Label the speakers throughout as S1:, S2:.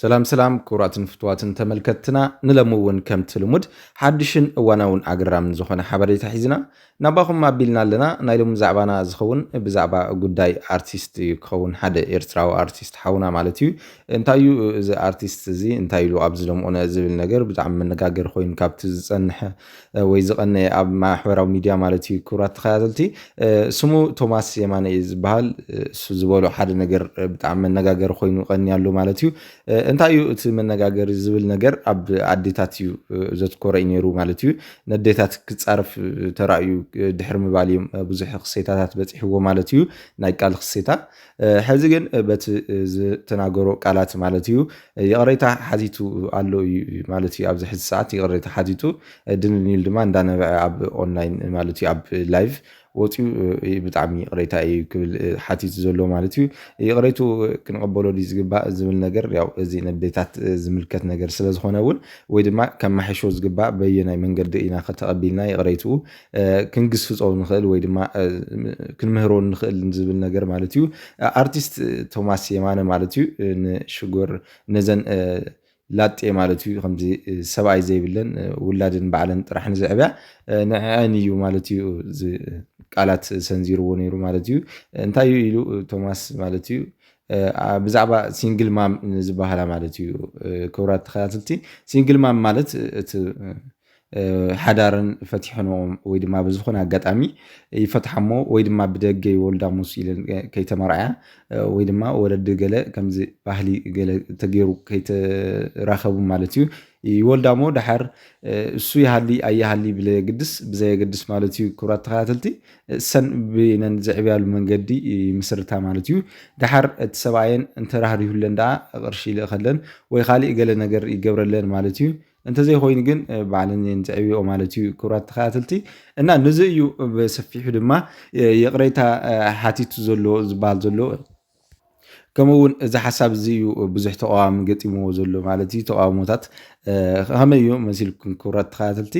S1: ሰላም ሰላም ክቡራትን ፍትዋትን ተመልከትትና ንለሚ እውን ከምቲ ልሙድ ሓድሽን እዋናውን ኣገራምን ዝኾነ ሓበሬታ ሒዝና ናባኹም ኣቢልና ኣለና ናይ ሎሚ ዛዕባና ዝኸውን ብዛዕባ ጉዳይ ኣርቲስት እዩ ክኸውን ሓደ ኤርትራዊ ኣርቲስት ሓውና ማለት እዩ እንታይ እዩ እዚ ኣርቲስት እዚ እንታይ ኢሉ ኣብዚ ደምኦነ ዝብል ነገር ብጣዕሚ መነጋገሪ ኮይኑ ካብቲ ዝፀንሐ ወይ ዝቐነየ ኣብ ማሕበራዊ ሚድያ ማለት እዩ ክብራት ተኸታተልቲ ስሙ ቶማስ የማነ እዩ ዝበሃል እሱ ዝበሎ ሓደ ነገር ብጣዕሚ መነጋገሪ ኮይኑ ቀኒያሉ ማለት እዩ እንታይ እዩ እቲ መነጋገሪ ዝብል ነገር ኣብ ኣዴታት እዩ ዘትኮረ እዩ ነይሩ ማለት እዩ ነዴታት ክፃርፍ ተራእዩ ድሕሪ ምባል እዮም ብዙሕ ክሴታታት በፂሕዎ ማለት እዩ ናይ ቃል ክሴታ ሐዚ ግን በቲ ዝተናገሮ ቃላት ማለት እዩ ይቕሬታ ሓቲቱ ኣሎ እዩ ማለት እዩ ኣብዚ ሕዚ ሰዓት ይቕሬታ ሓቲቱ ድንኒል ድማ እንዳነበዐ ኣብ ኦንላይን ማለት እዩ ኣብ ላይቭ ወፂኡ ብጣዕሚ ይቕሬታ እዩ ክብል ሓቲቱ ዘሎ ማለት እዩ ይቕሬቱ ክንቐበሎ ድዩ ዝግባእ ዝብል ነገር ያው እዚ ነዴታት ዝምልከት ነገር ስለዝኾነ እውን ወይ ድማ ከማሕሾ ዝግባእ በየናይ መንገዲ ኢና ከተቐቢልና ይቕሬትኡ ክንግስጾ ንኽእል ወይ ድማ ክንምህሮ ንኽእል ዝብል ነገር ማለት እዩ። ኣርቲስት ቶማስ የማነ ማለት እዩ ንሽጎር ነዘን ላጤ ማለት እዩ ከምዚ ሰብኣይ ዘይብለን ውላድን ባዕለን ጥራሕ ንዝዕብያ ንዕዐን እዩ ማለት እዩ ቃላት ሰንዚርዎ ነይሩ ማለት እዩ። እንታይ እዩ ኢሉ ቶማስ ማለት እዩ ብዛዕባ ሲንግል ማም ዝበሃላ ማለት እዩ ክብራት ተኸታተልቲ ሲንግል ማም ማለት እቲ ሓዳረን ፈቲሐንኦ ወይ ድማ ብዝኾነ ኣጋጣሚ ይፈትሓሞ ወይ ድማ ብደገ ይወልዳ ሙስ ኢለን ከይተመርዓያ ወይ ድማ ወለዲ ገለ ከምዚ ባህሊ ገለ ተገይሩ ከይተራኸቡ ማለት እዩ ይወልዳሞ ድሓር እሱ ይሃሊ ኣይሃሊ ብለየግድስ ብዘየገድስ ማለት እዩ ክብራት ተኸታተልቲ እሰን ብነን ዝዕብያሉ መንገዲ ምስርታ ማለት እዩ ድሓር እቲ ሰብኣየን እንተራህሪሁለን ደኣ ቅርሺ ይልእኸለን ወይ ካሊእ ገለ ነገር ይገብረለን ማለት እዩ እንተዘይኮይኑ ግን ባዕለን እየን ዝዕብየኦ ማለት እዩ ክብራት ተኸታተልቲ እና ንዚ እዩ ብሰፊሑ ድማ ይቕሬታ ሓቲቱ ዘሎ ዝበሃል ዘሎ ከምኡ እውን እዚ ሓሳብ እዚ እዩ ብዙሕ ተቃዋሚ ገጢምዎ ዘሎ ማለት እዩ ተቃውሞታት ከመይ እዩ መሲልኩም ክብራት ተኸታተልቲ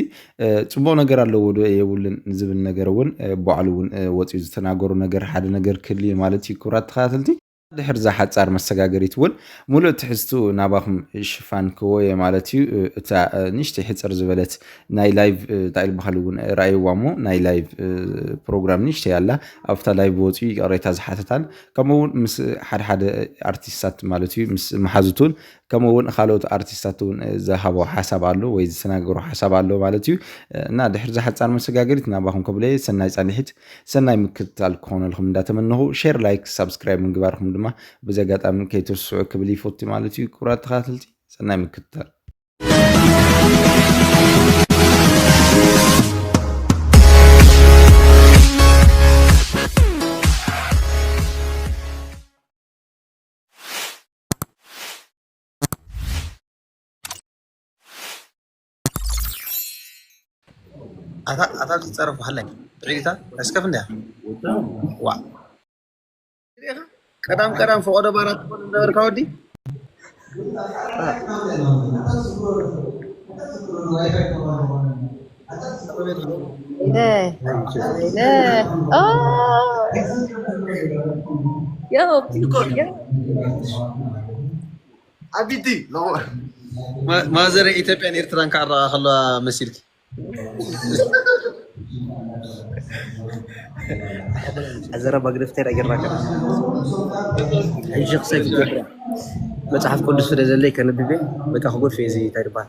S1: ፅቡቅ ነገር ኣለዎ ዶ የብሉን ዝብል ነገር እውን ባዕሉ እውን ወፂኡ ዝተናገሩ ነገር ሓደ ነገር ክህልዩ ማለት እዩ ክብራት ተኸታተልቲ ድሕሪ እዛ ሓጻር መሰጋገሪት እውን ምሉእ ትሕዝትኡ ናባኹም ሽፋን ክወየ ማለት እዩ። እታ ንእሽተይ ሕጽር ዝበለት ናይ ላይቭ እንታይ ዝበሃል እውን ረኣይዋ እሞ ናይ ላይቭ ፕሮግራም ንእሽተይ ኣላ ኣብታ ላይቭ ወጽኡ ይቅሬታ ዝሓተታን ከምኡ እውን ምስ ሓደሓደ ኣርቲስታት ማለት እዩ ምስ መሓዙቱን ከምኡ እውን ካልኦት ኣርቲስታት እውን ዝሃቦ ሓሳብ ኣሎ ወይ ዝተናገሮ ሓሳብ ኣሎ ማለት እዩ እና ድሕሪ እዛ ሓጻር መሰጋገሪት ናባኹም ከብለየ ሰናይ ጻንሒት ሰናይ ምክትታል ክኾነልኩም እንዳተመነኹ ሼር ላይክ ሳብስክራይብ ምግባርኩም ድማ በዚ ኣጋጣሚ ከይትርስዑ ክብል ይፈቱ ማለት እዩ ክቡራት ተኸታተልቲ ሰናይ ምክትታል
S2: ኣታ ኣታ ዝጸረፉ ሃላይ ብዒታ እስከፍ እንዲያ ዋ ቀዳም ቀዳም ፈቆዶ ባራት ትኮን ነበርካ ወዲ
S3: ያ
S2: ዓቢቲ ማዘረ ኢትዮጵያን ኤርትራን ካራ ከላ መሲልኪ
S4: ዘረ ማግነፍቴር ኣየራ ሕጂ ክሰብ መፅሓፍ ቅዱስ ስለ ዘለይ ከንብቤ በቃ ክጎድፍ እዩ እዚ እንታይ ድባል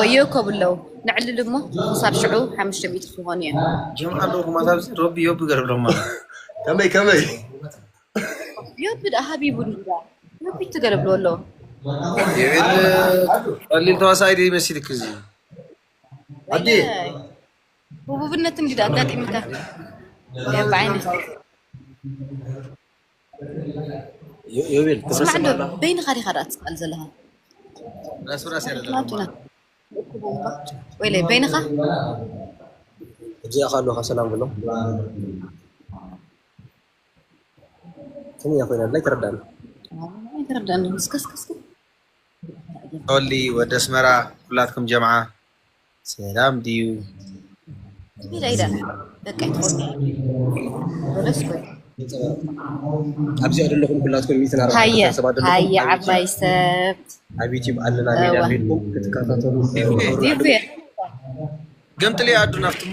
S3: ወዮ ከብ ኣለዉ ንዕልል እሞ ክሳብ ሽዑ ሓሙሽተ ሚእቲ ክኾኑ እዮም ጀምዓ ኣለኹም
S2: ኣብዚ ረቢ ዮቢ ገረብሎም ኣሎ ከመይ ከመይ
S3: ዮቢ ደኣ ሃቢቡ ንዳ ዮቢ ትገረብሉ ኣሎ ይብል
S2: ቀሊል ተዋሳኢ ድዩ መሲልክ እዚ ኣዲ
S3: ህቡብነት እንግዲ ኣጋጢምካ ብዓይነት
S4: ዮቤል ክብረስም ኣሎ
S3: በይንኻ ዲኻ ዳኣ ትስኣል ዘለኻ
S2: ራስራስ ያለ
S3: ወይለ በይንኻ
S4: እዚኣ ካሎካ ሰላም ብሎ ከመይ ኮይና ላይ ተረዳኒ
S3: ተረዳኒ ስከስከስከ
S2: ኦሊ ወደ ኣስመራ ኩላትኩም ጀምዓ ሰላም ድዩ
S4: ኣብዚ ዘለኹም ኩላትኩም ሚትን ኣርባዕተሰባሃየ
S3: ዓባይ ሰብ ኣብ ዩቲብ ኣለና
S4: ሜድያ ኮይንኩም ክትከታተሉ
S2: ገምጥልያ ኣዱ ናፍትሞ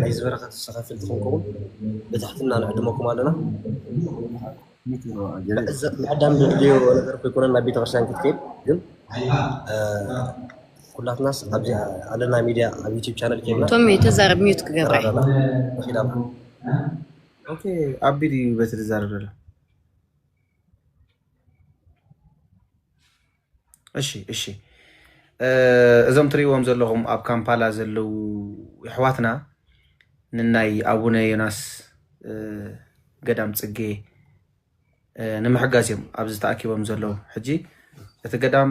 S4: ናይዚ በረከት ተሳታፊ ንክትከውን ብትሕትና ንዕድመኩም ኣሎና። ምዕዳም ዘድልዮ ነገር ከይኮነ ናብ ቤተክርስትያን ክትከይድ ግን ኩላትናስ ኣብዚ ኣለና ሚድያ ኣብ ዩቲብ ቻነል ከይና ቶሚ ተዛረብ ሚዩት
S3: ክገብረ ኣለና ንኪድ ኣለና
S2: ኦኬ ኣቢ ድዩ በቲ ዝዛረብ ዘሎ እሺ እሺ እዞም ትሪእዎም ዘለኹም ኣብ ካምፓላ ዘለዉ ኣሕዋትና ንናይ ኣቡነ ዮናስ ገዳም ፅጌ ንምሕጋዝ እዮም ኣብዚ ተኣኪቦም ዘለዉ። ሕጂ እቲ ገዳም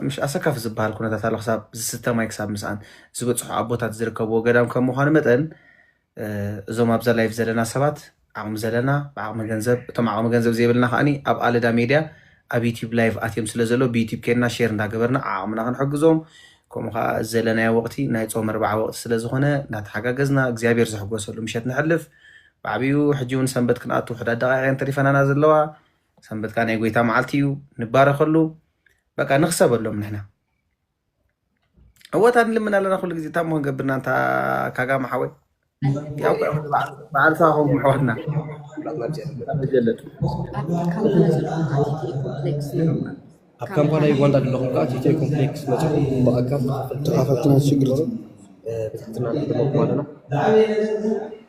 S2: ምሽ ኣሰካፊ ዝበሃል ኩነታት ኣሎ ክሳብ ዝስተ ማይ ክሳብ ምስኣን ዝበፅሑ ኣቦታት ዝርከብዎ ገዳም ከም ምኳኑ መጠን እዞም ኣብዛ ላይቭ ዘለና ሰባት ዓቕሚ ዘለና ብዓቕሚ ገንዘብ እቶም ዓቕሚ ገንዘብ ዘይብልና ከዓ ኣብ ኣለዳ ሜድያ ኣብ ዩቲብ ላይቭ ኣትዮም ስለ ዘሎ ብዩቲብ ኬድና ሼር እንዳገበርና ዓቕምና ክንሕግዞም ከምኡ ከዓ ዘለናዮ ወቅቲ ናይ ፆም ኣርባዓ ወቅቲ ስለ ዝኾነ እናተሓጋገዝና እግዚኣብሔር ዝሕጎሰሉ ምሸት ንሕልፍ ብዓብዩ ሕጂ እውን ሰንበት ክንኣቱ ሕዳት ደቃቂቀን ተሪፈናና ዘለዋ ሰንበት ከዓ ናይ ጎይታ መዓልቲ እዩ ንባረከሉ በቃ ንክሰበሎም ንሕና ዕወታት ንልምን ኣለና ኩሉ ግዜ እታ ሞን ገብርና እንታ ካጋማ ሓወይ በዓል ሳኹም ምሕዋትና መጀለጥ
S4: ኣብ ካምፓላ ዩጋንዳ ዘለኹም ከዓ ቲቴ ኮምፕሌክስ መፅኹም ብኣካል ተኻፈልቲ ናይ ሽግር ብትሕትና ንዕድመኩም ኣለና